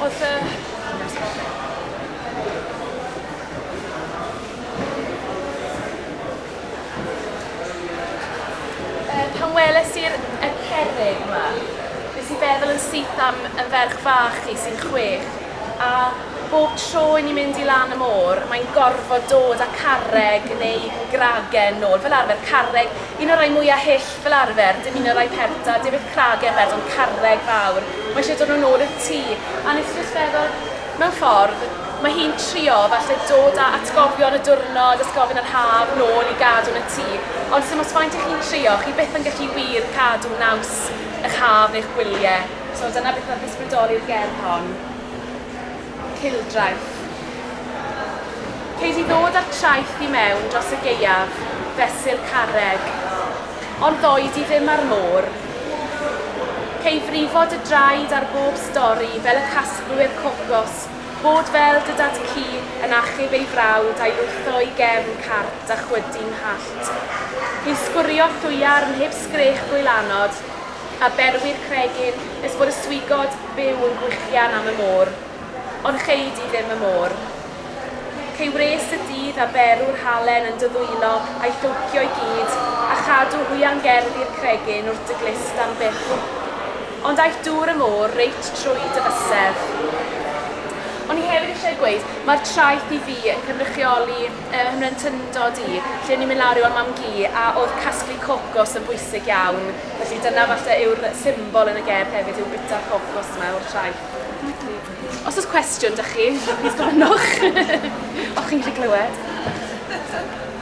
Os yy. Yy pan weles i'r y cerrig 'ma, nes i feddwl yn syth am y ferch fach chi sy'n chwech a Bob tro i ni mynd i lan y môr, mae'n gorfod dod â carreg neu gragen nôl, fel arfer carreg, un o'r rhai mwya' hyll fel arfer, dim un o'r rhai pelta, dim byth cragen bedd ond carreg fawr, mae eisiau dod nhw nôl i'r tŷ. A wnes i jyst feddwl, mewn ffordd, mae hi'n trio falle dod â atgofion y diwrnod, atgofion yr haf, nôl i gadw yn y tŷ, ond sim ots faint 'y chi'n trio, chi byth yn gallu wir cadw naws 'ych haf neu'ch gwylie. So dyna beth oedd ysbrydoli'r gerdd hon. Cylchgraff. Ceid i ddod â'r traeth i mewn dros y gaeaf, fesul carreg. Ond ddoi di ddim â'r môr. Cei frifo dy draed ar bob stori fel y casglwyr cocos, bod fel dy dad ci yn achub ei frawd a'i lwytho i gefn carpd a chwydu 'nghallt. Hi'n sgwrio thwiarn heb sgrech gwylanod, a berwi'r cregyn nes bod y swigod byw yn gwichian am y môr. Ond chei di ddim y môr. Cei wres y dydd a berw'r halen yn dy ddwylo a'i thowcio i gyd, a chadw hwiangerddi i'r cregyn wrth dy glust am byth. Ond aeth dŵr y môr reit trwy dy fysedd. O'n i hefyd eisiau gweud, mae'r traeth i fi yn cynrychioli yy ymrentyndod i, lle o'n i'n mynd lawr i weld mam-gu a oedd casglu cocos yn bwysig iawn. Felly dyna falle yw'r symbol yn y gerdd hefyd yw bita pob cwrs yma o'r traeth. Felly, os oes cwestiwn da chi, plîs gofynnwch. Os chi'n gallu clywed.